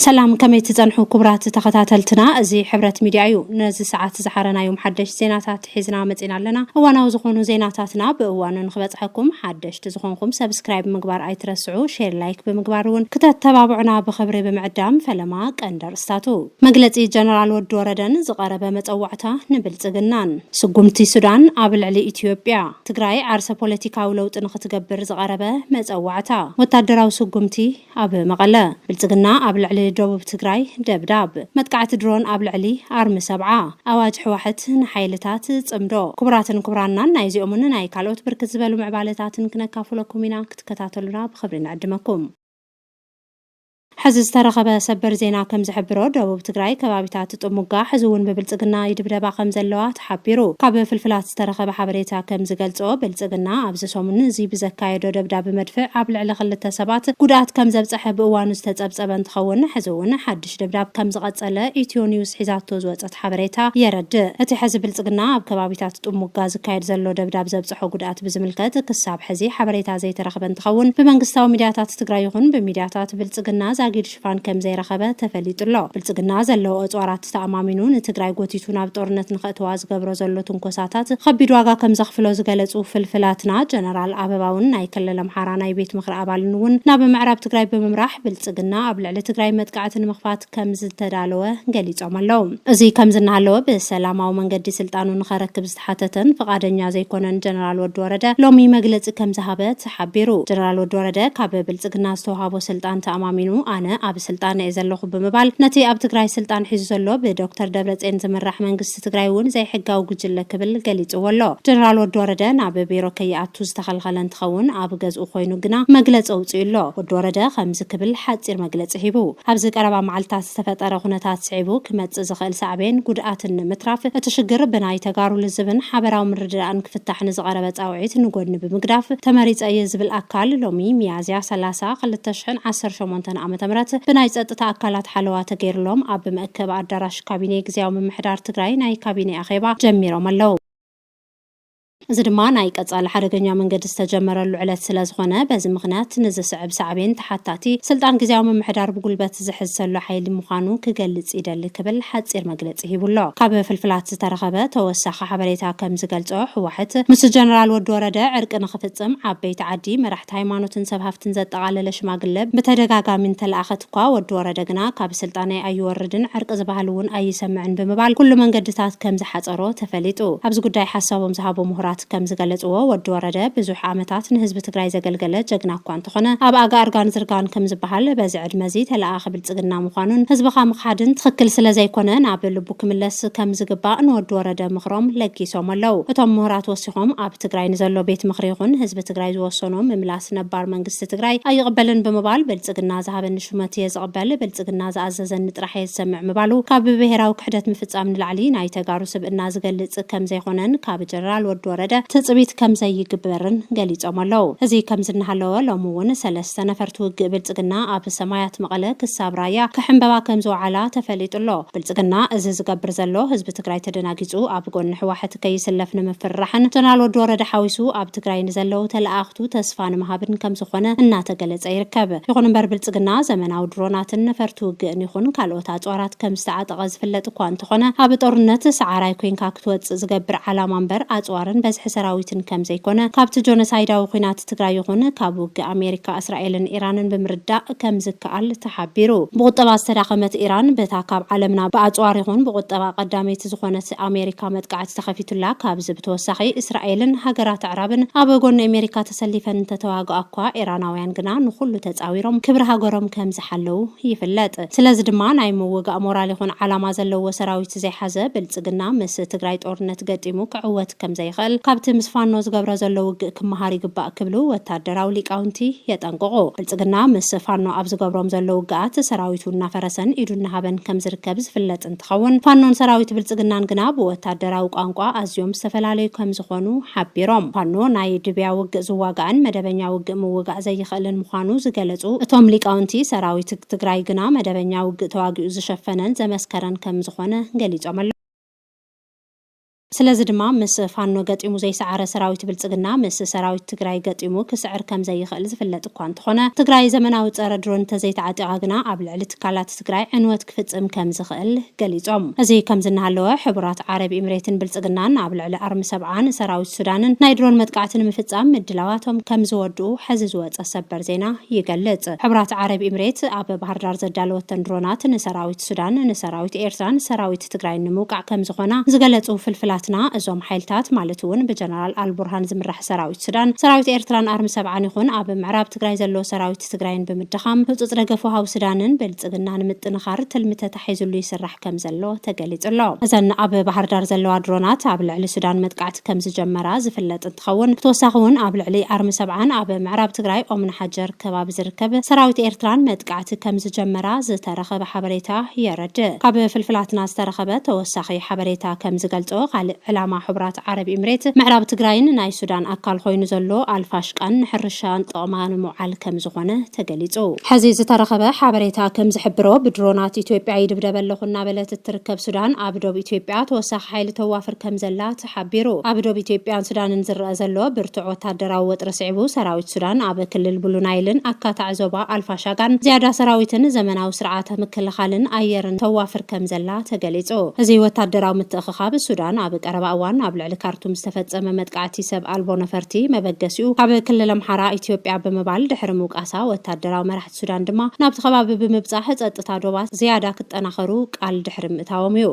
ሰላም ከመይ ትጸንሑ ኩቡራት ተኸታተልትና እዚ ሕብረት ሚድያ እዩ ነዚ ሰዓት ዝሓረናዮም ሓደሽት ዜናታት ሒዝና መጺና ኣለና እዋናዊ ዝኾኑ ዜናታትና ብእዋኑ ንኽበጽሐኩም ሓደሽት ዝኾንኹም ሰብስክራይብ ምግባር ኣይትረስዑ ሼር ላይክ ብምግባር እውን ክተተባብዑና ብኽብሪ ብምዕዳም ፈለማ ቀንዲ ኣርእስታቱ መግለጺ ጀነራል ወዲ ወረደን ዝቐረበ መጸዋዕታ ንብልጽግናን ስጉምቲ ሱዳን ኣብ ልዕሊ ኢትዮጵያ ትግራይ ዓርሰ ፖለቲካዊ ለውጢ ንኽትገብር ዝቐረበ መጸዋዕታ ወታደራዊ ስጉምቲ ኣብ መቐለ፣ ብልፅግና ኣብ ልዕሊ ደቡብ ትግራይ ደብዳብ። መጥቃዕቲ ድሮን ኣብ ልዕሊ ኣርሚ ሰብዓ። ኣዋጅ ሕዋሕት ንሓይልታት ፅምዶ። ክቡራትን ክቡራናን ናይ እዚኦምን ናይ ካልኦት ብርክት ዝበሉ ምዕባለታትን ክነካፍለኩም ኢና ክትከታተሉና ብኽብሪ ንዕድመኩም። ሕዚ ዝተረኸበ ሰበር ዜና ከምዝሕብሮ ደቡብ ትግራይ ከባቢታት ጥሙጋ ሕዚ እውን ብብልፅግና ይድብደባ ከምዘለዋ ሓቢሩ። ካብ ፍልፍላት ዝተረኸበ ሓበሬታ ከም ዝገልጾ፣ ብልጽግና ኣብዚ ሰሙን እዚ ብዘካየዶ ደብዳብ መድፍዕ ኣብ ልዕሊ ክልተ ሰባት ጉድኣት ከም ዘብጸሐ ብእዋኑ ዝተጸብጸበ እንትኸውን፣ ሕዚ እውን ሓድሽ ደብዳብ ከም ዝቐጸለ ኢትዮ ኒውስ ሒዛቶ ዝወጸት ሓበሬታ የረድእ። እቲ ሕዚ ብልጽግና ኣብ ከባቢታት ጥሙጋ ዝካየድ ዘሎ ደብዳብ ዘብጸሖ ጉድኣት ብዝምልከት ክሳብ ሕዚ ሓበሬታ ዘይተረኽበ እንትኸውን፣ ብመንግስታዊ ሚድያታት ትግራይ ይኹን ብሚድያታት ብልጽግና ዛጊድ ሽፋን ከምዘይረኸበ ተፈሊጡ'ሎ። ብልፅግና ዘለዎ እፅዋራት ተኣማሚኑ ንትግራይ ጎቲቱ ናብ ጦርነት ንኸእትዋ ዝገብሮ ዘሎ ትንኮሳታት ኸቢድ ዋጋ ከምዘኽፍሎ ዝገለፁ ፍልፍላትና ጀነራል ኣበባውን ናይ ክልል ኣምሓራ ናይ ቤት ምኽሪ ኣባልን እውን ናብ ምዕራብ ትግራይ ብምምራሕ ብልፅግና ኣብ ልዕሊ ትግራይ መጥቃዕቲ ንምኽፋት ከምዝተዳለወ ገሊፆም ኣለው። እዙይ ከምዚ እናሃለወ ብሰላማዊ መንገዲ ስልጣኑ ንኸረክብ ተሓተተን ፍቓደኛ ዘይኮነን ጀነራል ወዲ ወረደ ሎሚ መግለፂ ከምዝሃበ ተሓቢሩ። ጀነራል ወዲ ወረደ ካብ ብልፅግና ዝተውሃቦ ስልጣን ተኣማሚኑ ኣነ ኣብ ስልጣን እየ ዘለኹ ብምባል ነቲ ኣብ ትግራይ ስልጣን ሒዙ ዘሎ ብዶክተር ደብረፅዮን ዝምራሕ መንግስቲ ትግራይ እውን ዘይሕጋዊ ጉጅለ ክብል ገሊፅዎ ኣሎ። ጀነራል ወዲ ወረደ ናብ ቢሮ ከይኣቱ ዝተኸልኸለ እንትኸውን ኣብ ገዝኡ ኮይኑ ግና መግለፂ ኣውፂኡ ኣሎ። ወዲ ወረደ ከምዚ ክብል ሓፂር መግለፂ ሂቡ። ኣብዚ ቀረባ መዓልትታት ዝተፈጠረ ኩነታት። ስዒቡ ክመፅእ ዝኽእል ሳዕቤን ጉድኣትን ንምትራፍ እቲ ሽግር ብናይ ተጋሩ ልዝብን ሓበራዊ ምርድዳእን ክፍታሕ ንዝቐረበ ፃውዒት ንጎድኒ ብምግዳፍ ተመሪፀ እየ ዝብል ኣካል ሎሚ ሚያዝያ ሰላሳ ክልተ ሽሕን ዓሰርተ ሸሞንተን ዓ ም ብናይ ፀጥታ ኣካላት ሓለዋ ተገይርሎም ኣብ መእከቢ ኣዳራሽ ካቢኔ ግዝያዊ ምምሕዳር ትግራይ ናይ ካቢኔ ኣኼባ ጀሚሮም ኣለው። እዚ ድማ ናይ ቀፃሊ ሓደገኛ መንገዲ ዝተጀመረሉ ዕለት ስለዝኾነ በዚ ምኽንያት ንዝስዕብ ሳዕቤን ተሓታቲ ስልጣን ግዝያዊ ምምሕዳር ብጉልበት ዝሕዝ ዘሎ ሓይሊ ምዃኑ ክገልፅ ይደሊ ክብል ሓፂር መግለፂ ሂቡ ኣሎ። ካብ ፍልፍላት ዝተረኸበ ተወሳኺ ሓበሬታ ከምዝገልፆ ህወሓት ምስ ጀነራል ወዲ ወረደ ዕርቂ ንኽፍፅም ዓበይቲ ዓዲ፣ መራሕቲ ሃይማኖትን ሰብ ሃፍትን ዘጠቓለለ ሽማግለ ብተደጋጋሚ እንተለኣኸ እኳ ወዲ ወረደ ግና ካብ ስልጣነይ ኣይወርድን ዕርቂ ዝባሃል እውን ኣይሰምዕን ብምባል ኩሉ መንገድታት ከም ዝሓፀሮ ተፈሊጡ። ኣብዚ ጉዳይ ሓሳቦም ዝሃቡ ምሁራት ከም ዝገለፅዎ ወዲ ወረደ ብዙሕ ዓመታት ንህዝቢ ትግራይ ዘገልገለ ጀግና እኳ እንተኾነ ኣብ ኣጋ እርጋን ዝርጋን ከም ዝባሃል በዚ ዕድመ እዚ ተለኣኣኺ ብልፅግና ምኳኑን ህዝብኻ ምኽሓድን ትኽክል ስለ ዘይኮነ ናብ ልቡ ክምለስ ከም ዝግባእ ንወዲ ወረደ ምኽሮም ለጊሶም ኣለው። እቶም ምሁራት ወሲኾም ኣብ ትግራይ ንዘሎ ቤት ምኽሪ ይኹን ህዝቢ ትግራይ ዝወሰኖ ምምላስ ነባር መንግስቲ መንግስቲ ትግራይ ኣይቕበልን ብምባል ብልፅግና ዝሃበኒ ሹመት እየ ዝቕበል፣ ብልፅግና ዝኣዘዘኒ ጥራሕ እየ ዝሰምዕ ምባሉ ካብ ብብሄራዊ ክሕደት ምፍፃም ንላዕሊ ናይ ተጋሩ ስብእና ዝገልፅ ከምዘይኾነን ካብ ጀነራል ወዲ ወረደ ትፅቢት ከምዘይግበርን ገሊፆም ኣለው። እዚ ከምዚ እናሃለወ ሎሚ እውን ሰለስተ ነፈርቲ ውግእ ብልፅግና ኣብ ሰማያት መቐለ ክሳብ ራያ ክሕምበባ ከምዝወዓላ ተፈሊጡ ኣሎ። ብልፅግና እዚ ዝገብር ዘሎ ህዝቢ ህዝቢ ትግራይ ተደናጊፁ ኣብ ጎኒ ህዋሕት ከይስለፍ ንምፍርራሕን ጀነራል ወዲ ወረደ ሓዊሱ ኣብ ትግራይ ንዘለው ተለኣኣኽቱ ተስፋ ንምሃብን ከምዝኾነ እናተገለፀ ይርከብ። ይኹን እምበር ብልፅግና ዘመናዊ ድሮናትን ነፈርቲ ውግእን ይኹን ካልኦት ኣፅዋራት ከምዝተዓጠቐ ዝፍለጥ እኳ እንተኾነ ኣብ ጦርነት ሰዓራይ ኮይንካ ክትወፅእ ዝገብር ዓላማ እምበር ኣፅዋርን በዝሒ ሰራዊትን ከምዘይኮነ ካብቲ ጆኖሳይዳዊ ኹናት ትግራይ ይኹን ካብ ውግእ ኣሜሪካ እስራኤልን ኢራንን ብምርዳእ ከምዝከኣል ተሓቢሩ። ብቑጠባ ዝተዳኸመት ኢራን በታ ካብ ዓለምና ብኣጽዋር ይኹን ብቑጠባ ቀዳመይቲ ዝኾነት ኣሜሪካ መጥቃዕቲ ተኸፊቱላ። ካብዚ ብተወሳኺ እስራኤልን ሃገራት ኣዕራብን ኣብ ጎኒ ኣሜሪካ ተሰሊፈን እንተተዋግኣኳ፣ ኢራናውያን ግና ንኹሉ ተጻዊሮም ክብሪ ሃገሮም ከም ከምዝተሓለዉ ይፍለጥ። ስለዚ ድማ ናይ ምውጋእ ሞራል ይኹን ዓላማ ዘለዎ ሰራዊት ዘይሓዘ ብልፅግና ምስ ትግራይ ጦርነት ገጢሙ ክዕወት ከምዘይኽእል ካብቲ ምስ ፋኖ ዝገብሮ ዘሎ ውግእ ክመሃር ይግባእ ክብሉ ወታደራዊ ሊቃውንቲ የጠንቅቑ። ብልፅግና ምስ ፋኖ ኣብ ዝገብሮም ዘሎ ውግኣት ሰራዊቱ እናፈረሰን ኢዱ እናሃበን ከምዝርከብ ዝፍለጥ እንትኸውን፣ ፋኖን ሰራዊት ብልፅግናን ግና ብወታደራዊ ቋንቋ ኣዝዮም ዝተፈላለዩ ከምዝኾኑ ሓቢሮም። ፋኖ ናይ ድብያ ውግእ ዝዋጋእን መደበኛ ውግእ ምውጋእ ዘይኽእልን ምዃኑ ዝገለፁ እቶም ሊቃውንቲ፣ ሰራዊት ትግራይ ግና መደበኛ ውግእ ተዋጊኡ ዝሸፈነን ዘመስከረን ከምዝኾነ ገሊፆም ኣለው። ስለዚ ድማ ምስ ፋኖ ገጢሙ ዘይሰዓረ ሰራዊት ብልፅግና ምስ ሰራዊት ትግራይ ገጢሙ ክስዕር ከምዘይኽእል ዝፍለጥ እኳ እንተኾነ ትግራይ ዘመናዊ ፀረ ድሮን እንተዘይተዓጢቓ ግና ኣብ ልዕሊ ትካላት ትግራይ ዕንወት ክፍፅም ከምዝኽእል ገሊፆም። እዚ ከምዚ እናሃለወ ሕቡራት ዓረብ ኢምሬትን ብልፅግናን ኣብ ልዕሊ ኣርሚ ሰብዓን ሰራዊት ሱዳንን ናይ ድሮን መጥቃዕቲ ንምፍፃም ምድላዋቶም ከምዝወድኡ ሐዚ ዝወፀ ሰበር ዜና ይገልፅ። ሕቡራት ዓረብ ኢምሬት ኣብ ባህርዳር ዘዳለወተን ድሮናት ንሰራዊት። ሱዳን ንሰራዊት ኤርትራን ሰራዊት ትግራይን ንምውቃዕ ከምዝኾና ዝገለፁ ፍልፍላትና፣ እዞም ሓይልታት ማለት እውን ብጀነራል ኣልቡርሃን ዝምራሕ ሰራዊት ሱዳን፣ ሰራዊት ኤርትራን ኣርሚ ሰብዓን ይኹን ኣብ ምዕራብ ትግራይ ዘሎ ሰራዊት ትግራይን ብምድኻም ህፁፅ ደገፍ ወሃቢ ሱዳንን ብልፅግና ንምጥንኻር ትልሚ ተታሒዙሉ ይስራሕ ከምዘሎ ተገሊፁ ኣሎ። እዘን ኣብ ባህርዳር ዘለዋ ድሮናት ኣብ ልዕሊ ሱዳን መጥቃዕቲ ከምዝጀመራ ዝፍለጥ እንትኸውን ብተወሳኺ ውን ኣብ ልዕሊ ኣርሚ ሰብዓን ኣብ ምዕራብ ትግራይ ኦምንሓጀር ከባቢ ዝርከብ ሰራዊት ኤርትራን መጥቃዕቲ ከምዝጀመራ ዝተረኸበ ሓበሬታ የረድእ። ካብ ፍልፍላትና ዝተረኸበ ተወሳኺ ሓበሬታ ከምዝገልፆ ካልእ ዕላማ ሕቡራት ዓረብ ኢምሬት ምዕራብ ትግራይን ናይ ሱዳን ኣካል ኾይኑ ዘሎ ኣልፋሽቃን ንሕርሻ ጥቕማ ንምውዓል ከምዝኾነ ተገሊፁ። ሐዚ ዝተረኸበ ሓበሬታ ከምዝሕብሮ ብድሮናት ኢትዮጵያ ይድብደበ ኣለኹ እናበለት እትርከብ ሱዳን ኣብ ዶብ ኢትዮጵያ ተወሳኺ ሓይሊ ተዋፍር ከምዘላ ተሓቢሩ። ኣብ ዶብ ኢትዮጵያን ሱዳንን ዝረኣ ዘሎ ብርቱዕ ወታደራዊ ወጥሪ ስዒቡ፣ ሰራዊት ሱዳን ኣብ ክልል ብሉ ናይልን ኣካታዒ ዞባ ኣልፋሻጋን ዝያዳ ሰራዊትን ዘመናዊ ስርዓተ ምክልኻልን ኣየርን ተዋፍር ከምዘላ ተገሊጹ። እዚ ወታደራዊ ምትእኽኻብ፣ ሱዳን ኣብ ቀረባ እዋን ኣብ ልዕሊ ካርቱም ዝተፈጸመ መጥቃዕቲ ሰብ ኣልቦ ነፈርቲ መበገሲኡ ካብ ክልል ኣምሓራ ኢትዮጵያ ብምባል ድሕሪ ምውቃሳ፣ ወታደራዊ መራሕቲ ሱዳን ድማ ናብቲ ከባቢ ብምብጻሕ ጸጥታ ዶባት ዝያዳ ክጠናኸሩ ቃል ድሕሪ ምእታዎም'ዩ።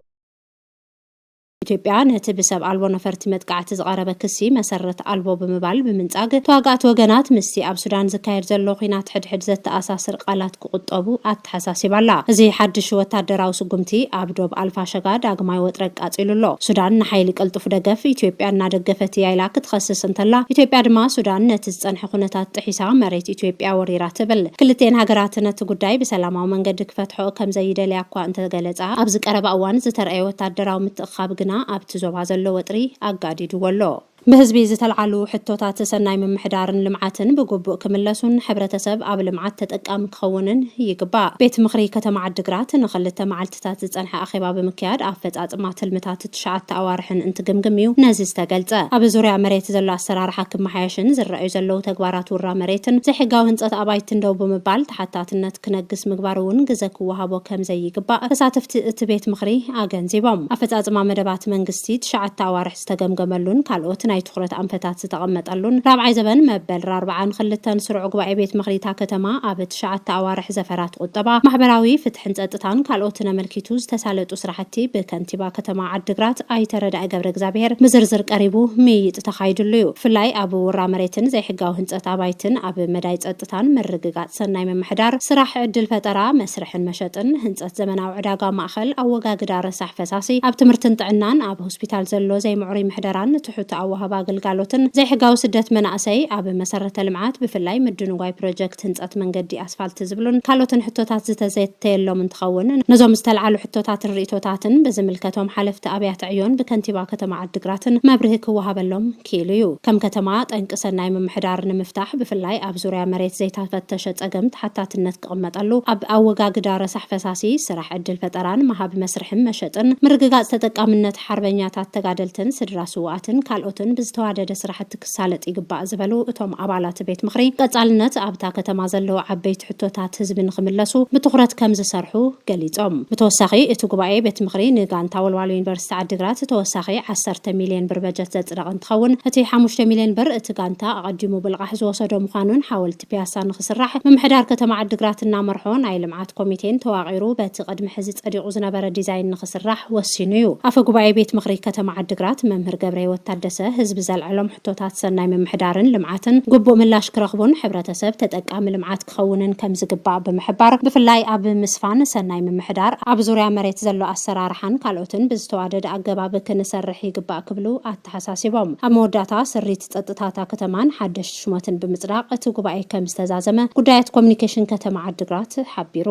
ኢትዮጵያ ነቲ ብሰብ ኣልቦ ነፈርቲ መጥቃዕቲ ዝቐረበ ክሲ መሰረት ኣልቦ ብምባል ብምንጻግ፣ ተዋጋእቲ ወገናት ምስቲ ኣብ ሱዳን ዝካየድ ዘሎ ኲናት ሕድሕድ ዘተኣሳስር ቃላት ክቑጠቡ ኣተሓሳሲባ'ላ። እዚ ሓድሽ ወታደራዊ ስጉምቲ፣ ኣብ ዶብ ኣልፋሸጋ ዳግማይ ወጥሪ ኣቃጺሉ ኣሎ። ሱዳን ንሓይሊ ቅልጡፍ ደገፍ ኢትዮጵያ እናደገፈት እያ ኢላ ክትኸስስ እንተላ፣ ኢትዮጵያ ድማ ሱዳን ነቲ ዝጸንሐ ኩነታት ጥሒሳ መሬት ኢትዮጵያ ወሪራ ትብል። ክልቲኤን ሃገራት ነቲ ጉዳይ ብሰላማዊ መንገዲ ክፈትሕኦ ከምዘይደልያ'ኳ እንተገለጻ፣ ገለጻ፣ ኣብዚ ቀረባ እዋን ዝተርኣየ ወታደራዊ ምትእኽኻብ ግና ኣብቲ ዞባ ዘሎ ወጥሪ ኣጋዲድዎ ኣሎ። ብህዝቢ ዝተልዓሉ ሕቶታት ሰናይ ምምሕዳርን ልምዓትን ብግቡእ ክምለሱን ሕብረተሰብ ኣብ ልምዓት ተጠቃሚ ክኸውንን ይግባእ። ቤት ምኽሪ ከተማ ዓዲግራት ንኽልተ መዓልቲታት ዝፀንሐ ኣኼባ ብምክያድ ኣፈፃፅማ ትልምታት ትሽዓተ ኣዋርሕን እንትግምግም እዩ ነዚ ዝተገልጸ። ኣብ ዙርያ መሬት ዘሎ ኣሰራርሓ ክመሓየሽን ዝረኣዩ ዘለዉ ተግባራት ውራ መሬትን ዘይሕጋዊ ህንጸት ኣባይትን ደው ብምባል ተሓታትነት ክነግስ ምግባር እውን ግዘ ክወሃቦ ከምዘይግባእ ተሳተፍቲ እቲ ቤት ምኽሪ ኣገንዚቦም። ኣፈፃፅማ መደባት መንግስቲ ትሽዓተ ኣዋርሕ ዝተገምገመሉን ካልኦት ናይ ትኹረት ኣንፈታት ዝተቐመጠሉን ራብዓይ ዘበን መበል ራርብዓን ኽልተን ስሩዕ ጉባኤ ቤት ምኽሪ እታ ከተማ ኣብ ትሽዓተ ኣዋርሕ ዘፈራት ቑጠባ፣ ማሕበራዊ ፍትሕን ፀጥታን ካልኦትን ኣመልኪቱ ዝተሳለጡ ስራሕቲ ብከንቲባ ከንቲባ ከተማ ዓዲግራት ኣይተ ረዳኢ ገብረእግዚኣብሄር ብዝርዝር ቀሪቡ ምይይጥ ተኻይድሉ ዩ። ብፍላይ ኣብ ውራ መሬትን ዘይሕጋዊ ህንፀት ኣባይትን፣ ኣብ መዳይ ፀጥታን ምርግጋፅ ሰናይ ምምሕዳር፣ ስራሕ ዕድል ፈጠራ፣ መስርሕን መሸጥን፣ ህንፀት ዘመናዊ ዕዳጋ ማእኸል፣ ኣወጋግዳ ረሳሕ ፈሳሲ፣ ኣብ ትምህርትን ጥዕናን፣ ኣብ ሆስፒታል ዘሎ ዘይምዕሩይ ምሕደራን ትሑት ኣወሃህባ ግልጋሎትን፣ ዘይሕጋዊ ስደት መናእሰይ፣ ኣብ መሰረተ ልምዓት ብፍላይ ምድንጓይ ፕሮጀክት ህንፀት መንገዲ ኣስፋልቲ ዝብሉን ካልኦትን ሕቶታት ዝተዘተየሎም እንትኸውን፣ ነዞም ዝተልዓሉ ሕቶታትን ርኢቶታትን ብዝምልከቶም ሓለፍቲ ኣብያተ ዕዮን ብከንቲባ ከተማ ዓዲግራትን መብርሂ ክወሃበሎም ክኢሉ እዩ። ከም ከተማ ጠንቂ ሰናይ ምምሕዳር ንምፍታሕ ብፍላይ ኣብ ዙርያ መሬት ዘይተፈተሸ ፀገም ተሓታትነት ክቕመጠሉ ኣብ ኣወጋግዳ ረሳሕ ፈሳሲ፣ ስራሕ ዕድል ፈጠራን መሃብ መስርሕን መሸጥን፣ ምርግጋፅ ተጠቃምነት ሓርበኛታት ተጋደልትን ስድራ ስውኣትን ካልኦትን ብዝተዋደደ ስራሕቲ ክሳለጥ ይግባእ ዝበሉ እቶም ኣባላት ቤት ምኽሪ፣ ቀፃልነት ኣብታ ከተማ ዘለዉ ዓበይቲ ሕቶታት ህዝቢ ንኽምለሱ ብትኹረት ከምዝሰርሑ ገሊፆም። ብተወሳኺ እቲ ጉባኤ ቤት ምኽሪ ንጋንታ ወልዋሎ ዩኒቨርሲቲ ዓዲግራት ተወሳኺ ዓሰርተ ሚሊየን ብር በጀት ዘፅደቐ እንትኸውን እቲ ሓሙሽተ ሚሊየን ብር እቲ ጋንታ ኣቐዲሙ ብልቓሕ ዝወሰዶ ምዃኑን ሓወልቲ ፒያሳ ንክስራሕ ምምሕዳር ከተማ ዓዲግራት እናመርሖ ናይ ልምዓት ኮሚቴን ተዋቒሩ በቲ ቅድሚ ሕዚ ፀዲቑ ዝነበረ ዲዛይን ንክስራሕ ወሲኑ እዩ። ኣፈ ጉባኤ ቤት ምኽሪ ከተማ ዓዲግራት መምህር ገብረህይወት ታደሰ ህዝቢ ዘልዐሎም ሕቶታት ሰናይ ምምሕዳርን ልምዓትን ግቡእ ምላሽ ክረኽቡን ሕብረተሰብ ተጠቃሚ ልምዓት ክኸውንን ከምዝግባእ ብምሕባር ብፍላይ ኣብ ምስፋን ሰናይ ምምሕዳር ኣብ ዙርያ መሬት ዘሎ ኣሰራርሓን ካልኦትን ብዝተዋደደ ኣገባብ ክንሰርሕ ይግባእ ክብሉ ኣተሓሳሲቦም። ኣብ መወዳእታ ስሪት ፀጥታ እታ ከተማን ሓደሽቲ ሹማትን ብምፅዳቕ እቲ ጉባኤ ከም ዝተዛዘመ ጉዳያት ኮሚኒኬሽን ከተማ ዓዲግራት ሓቢሩ።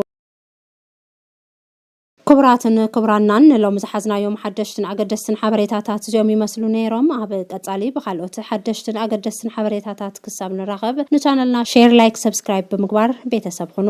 ክቡራትን ክቡራናን ንሎሚ ዝሓዝናዮም ሓደሽትን ኣገደስትን ሓበሬታታት እዚኦም ይመስሉ ነይሮም። ኣብ ቀፃሊ ብካልኦት ሓደሽትን ኣገደስትን ሓበሬታታት ክሳብ ንራኸብ ንቻነልና ሼር፣ ላይክ፣ ሰብስክራይብ ብምግባር ቤተሰብ ኹኑ።